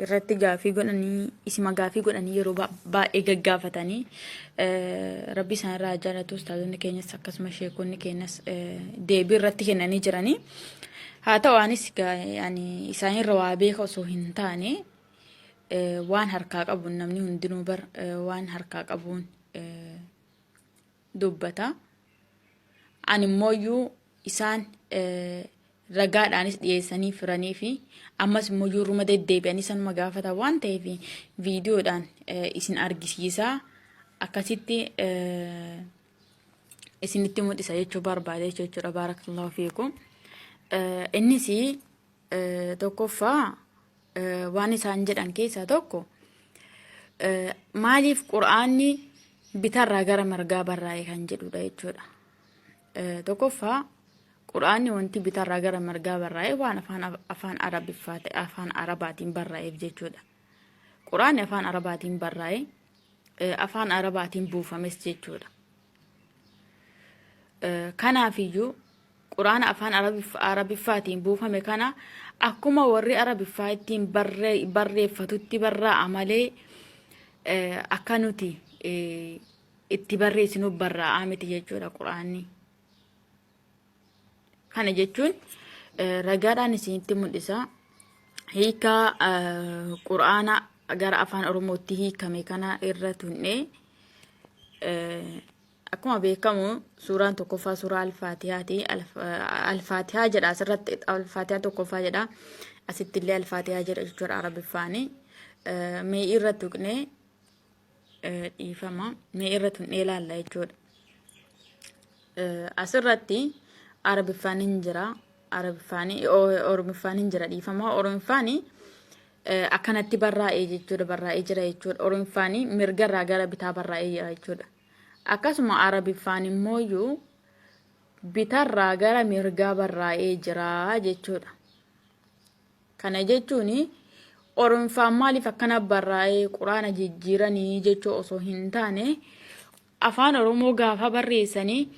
irratti gaafii godhanii isima gaafii godhanii yeroo ba- baay'ee gaggaafatanii eh, rabbi isaan irraa jaalatu ustaazonni keenyas akkasuma sheekonni keenyas eh, deebii irratti kennanii jiranii haa ta'u anis ga- yani isaan irra waa beeka osoo hin taane eh, waan harkaa qabuun namni hundinuu bar eh, waan harkaa qabuun eh, dubbata. Ani immooyyuu isaan ragaadhaanis dhiyeessanii firanii fi ammas immooyyuu ruma deddeebi'anii sanuma gaafata waan ta'eef viidiyoodhaan isin argisiisa akkasitti isinitti mul'isa jechuu barbaade jechuudha baarakallahu fiikum. Innis Tokkoffaa waan isaan jedhan keessaa tokko maaliif qur'aanni bitarraa gara margaa barraa'e kan jedhudha jechuudha. Tokkoffaa qur'aanni wanti bitarraa gara margaa barraa'e waan afaan afaan arabiffaa ta'e afaan arabaatiin barraa'eef jechuudha. Qur'aanni afaan arabaatiin barraa'e afaan arabaatiin buufames jechuudha. Kanaafiyyuu Qur'aana afaan Arabiffaatiin buufame kana akkuma warri Arabiffaa ittiin barreeffatutti barraa'a malee akka nuti itti barreessinuuf barraa'aa miti jechuudha Qur'aanni. Kana jechuun ragaadhaan isinitti mul'isa. Hiika Qur'aana gara afaan Oromootti hiikame kana irra tunnee Akkuma beekamu suuraan tokkoffaa suuraa alfaatihaati. Alfaatihaa jedha asirratti alfaatihaa tokkoffaa jedha. Asitti illee alfaatihaa jedha jechuudha arabiffaani. Mee irra tuqnee dhiifama. Mee irra tuqnee ilaalla jechuudha. Asirratti arabiffaan hin jira. Arabiffaan oromiffaan hin jira dhiifama. Oromiffaan akkanatti barraa'ee jechuudha barraa'ee jira jechuudha. Oromiffaan mirgarraa gara bitaa barraa'ee jira jechuudha. Akkasuma Arabiffaan immooyyu bitarraa gara mirgaa barraa'ee jira jechuudha. Kana jechuun Oromffaan maaliif akkana barraa'ee Quraana jijjiiranii jechuu osoo hin taane Afaan Oromoo gaafa barreessanii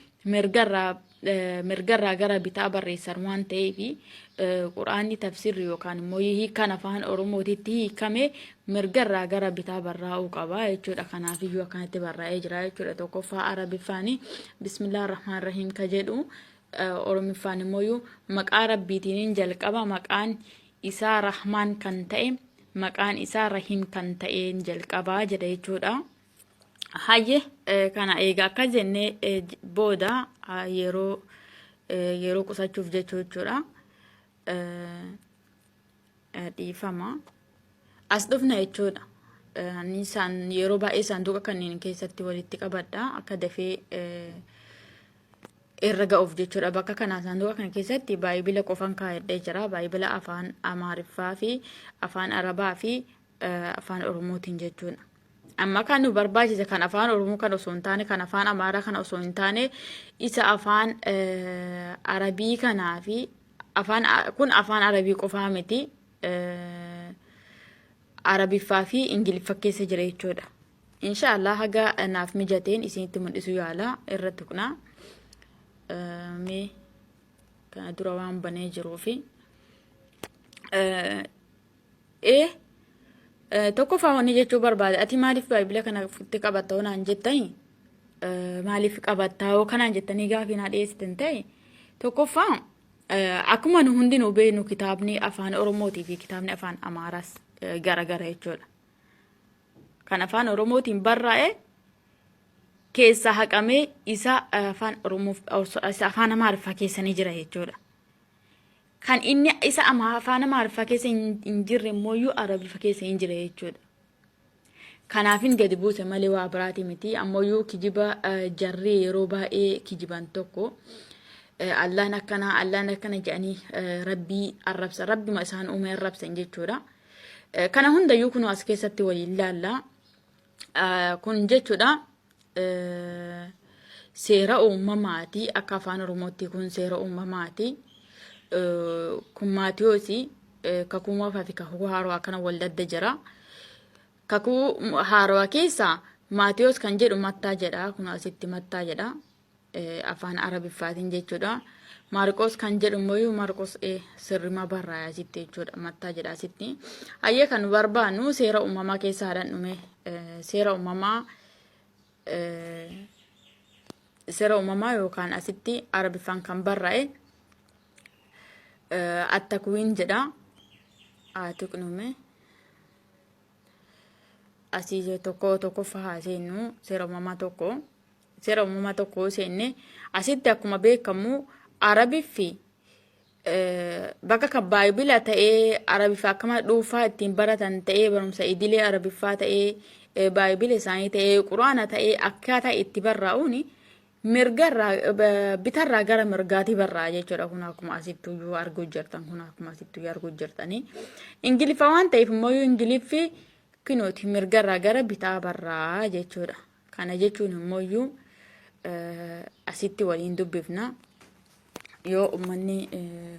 mirgarraa gara bitaa barreessan waan ta'eef quraanni tafsirri yookaan immoo hiikaan afaan oromootitti hiikame mirgarraa gara bitaa barraa'uu qaba jechuudha kanaaf iyyuu akkanatti barraa'ee jira jechuudha tokkoffaa arabiffaan bismillah rahmaan rahiim ka jedhu oromiffaan immoo maqaa rabbiitiin jalqaba maqaan isaa rahmaan kan ta'e maqaan isaa rahiim kan ta'een jalqabaa jedha jechuudha. Hayye eh, kana egaa akka jenne eh, j- booda ah, yeroo eh, yeroo qusachuuf jechuu jechuudha. Eh, eh, Dhiifama. As dhufna jechuudha. Eh, Ani isaan yeroo baay'ee saanduqa kanneen keessatti walitti qabadha. Akka dafee eh, irra ga'uuf jechuudha. Bakka kanaa saanduqa kana keessatti baay'ibila qofan kaa'adhee jira. Baay'ibila afaan Amaariffaa fi afaan Arabaa fi eh, afaan Oromootiin jechuudha. Amma kan nu barbaachise kan afaan Oromoo kan osoo hin taane kan afaan Amaaraa kana osoo hin taane isa afaan Arabii kanaa fi afaan kun afaan Arabii qofaa miti Arabiffaa fi Ingiliffa keessa jira jechuudha. Inshaallah haga naaf mijateen isinitti mul'isu yaala irra tuqna. Mee kana dura waan banee jiruufi. ee tokkoffaa wanni jechuu barbaade ati maaliif baay'ibila kana itti qabatta hoo naan jettani maaliif qabatta hoo kanaan jettanii gaafii naa dhiyeessitan ta'e tokkoffaa akkuma nu hundinuu beeknu kitaabni afaan oromootii fi kitaabni afaan amaaraas garagara jechuudha. Kan afaan oromootiin barraa'e keessaa haqamee isa afaan oromoof isa afaan amaariffaa keessanii jira jechuudha. Kan inni isa ama afaan Amaariffaa keessa hin hin jirre immooyyuu Arabiffa keessa hin jira jechuudha. Kanaafin gadi buuse malee waa biraati miti. Ammayyuu kijiba eh, jarri yeroo baay'ee kijiban tokko eh, Allaan akkana Allaan akkana jedhanii eh, Rabbii arrabsa Rabbima isaan uume arrabsan jechuudha. Eh, Kana hundayyuu kunoo as keessatti waliin laalla. Kun jechuudha seera uumamaati akka afaan oromootti kun seera uumamaati kun maatiyoosi kakuu moofaa fi kakuu haaroo akkana wal dadda jira kakuu haaroo keessa maatiyoos kan jedhu mattaa jedha kun asitti mattaa jedha afaan arabiffaatiin jechuudha. Maarqoos kan jedhu immoo Maarqoos e sirrima barraa'e asitti jechuudha. Mattaa jedha asitti. Ayyee kan barbaannu seera uumamaa keessa haadhan dhume seera uumamaa seera uumamaa yookaan asitti arabiffaan kan barraa'e attakuwiin jedha. Haa tuqnume. asii tokko tokkoffaa haa seennu seera uumamaa tokko seera uumamaa tokko yoo seenne asitti akkuma beekamu arabii fi eh, bakka kan baayibila ta'ee arabiffaa akkama dhuunfaa ittiin baratan ta'ee barumsa idilee arabiffaa ta'ee eh, baayibila isaanii ta'ee quraana ta'ee akkaataa itti barraa'uun mirga irraa eh, bitarraa gara mirgaati barraa jechuudha kun akkuma asittu iyyuu arguu jirtan kun akkuma asittu iyyuu arguu jirtanii ingiliffa waan ta'eef immoo iyyuu ingiliffi kinooti mirga irraa gara bitaa barraa jechuudha kana jechuun immoo iyyuu eh, asitti waliin dubbifna yoo ummanni eh,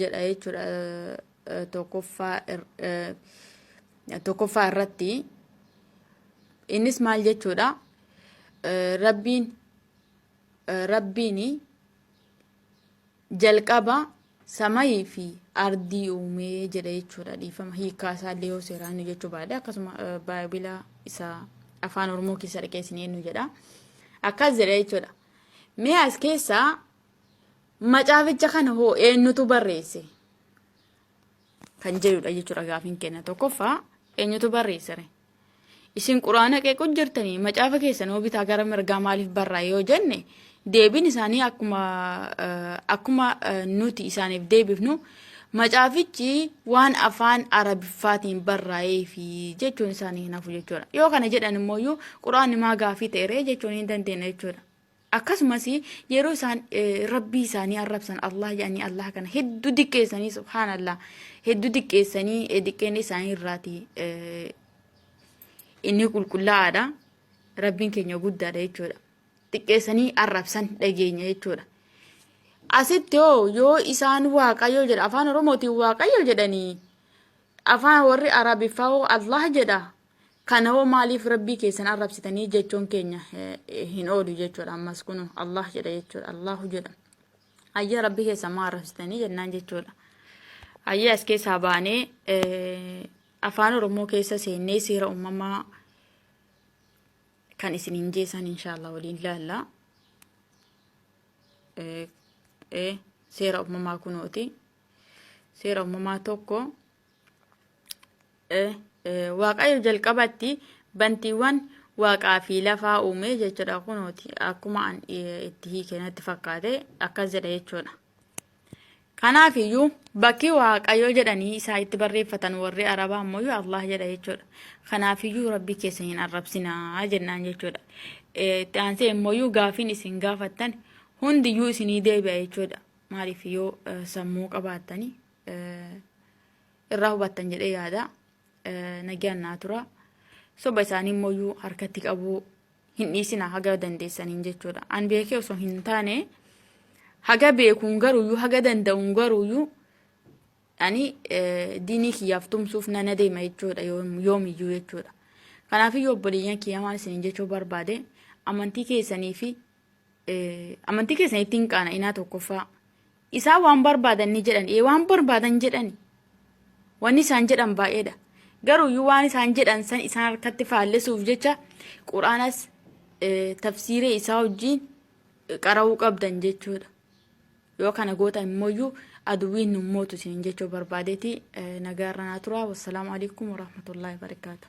jedha jechuudha tokkoffaa tokkoffaa irratti innis maal jechuudha rabbiin rabbiin jalqaba samayii fi ardii uumee jedha jechuudha dhiifama hiikaa isaa illee yoo seeraan nu jechuu baadhe akkasuma baabila isa afaan oromoo keessa dhaqeessinee nu jedha akkas jedha jechuudha mee as keessaa Macaaficha kana hoo eenyutu barreesse? Kan jedhudha jechuudha gaafiin keenya tokkoffaa eenyutu barreessere? Isin quraana qeequu jirtanii macaafa keessan hoo bitaa gara mirgaa maaliif barraa yoo jenne deebiin isaanii akkuma akkuma nuti isaaniif deebifnu macaafichi waan afaan arabiffaatiin barraa'ee fi jechuun isaanii hin hafu jechuudha. Yoo kana jedhan immoo quraanni maa gaafii ta'eree jechuun hin dandeenya jechuudha. Akkasumas yeroo isaan rabbii isaanii arrabsan Allah jedhanii Allah kana hedduu diqqeessanii subhaanallah hedduu diqqeessanii diqqeen isaanii irraati inni qulqullaa'aadha rabbiin keenya guddaadha jechuudha xiqqeessanii arrabsan dhageenya jechuudha asitti hoo yoo isaan waaqayyo jedha afaan oromootiin waaqayyo jedhanii afaan warri arabiffaa hoo allah jedha Kana hoo maaliif rabbii keessan arrabsitanii jechuun keenya hin oolu jechuudha ammas kunu Allah jedha jechuudha Allahu jedha ayya rabbii keessan maa arrabsitanii jennaan jechuudha ayya as keessaa baanee afaan oromoo keessa seennee seera uumamaa kan isin hin jeesan inshaallah waliin laalla seera uumamaa kunooti seera uumamaa tokko Waaqayyo jalqabatti bantiiwwan waaqaa fi lafaa uume jechuudha kunooti akkuma an itti hiike natti fakkaate akkas jedha jechuudha. Kanaaf iyyuu bakki waaqayyo jedhanii isaa itti barreeffatan warri arabaa ammoo iyyuu Allah jedha jechuudha. Kanaaf iyyuu rabbii keessa hin arrabsinaa jennaan jechuudha. Itti aansee immoo iyyuu gaafiin isin gaafattan hundiyyuu isinii deebi'a jechuudha. Maaliif yoo sammuu qabaattanii irraa hubattan jedhee yaada nagaan naa tura soba isaanii immoo harkatti qabuu hin dhiisina haga dandeessaniin jechuudha an beekee osoo hin taane haga beekuun garuuyyuu haga danda'uun garuuyyuu ani diinii kiyyaaf tumsuuf nana deema jechuudha yoomiyyuu jechuudha kanaafiyyuu obboleeyyan kiyya maal isiniin jechuu barbaade amantii keessanii fi amantii keessan ittiin qaana inaa tokkoffaa Isaan waan barbaadan ni jedhan. Ee waan barbaadan jedhani. Wanni isaan jedhan baay'eedha. Garuuyyuu waan isaan jedhan san isaan harkatti faallessuuf jecha Qur'aanas eh, tafsiiree isaa wajjin eh, qara'uu qabdan jechuudha. Yoo kana gootan immooyyuu aduwwiin nun mootu isiniin jechuu barbaadeeti eh, nagaa irra naa tura. Wassalaamu alaikum warahmatullaahi wabarakaatuh.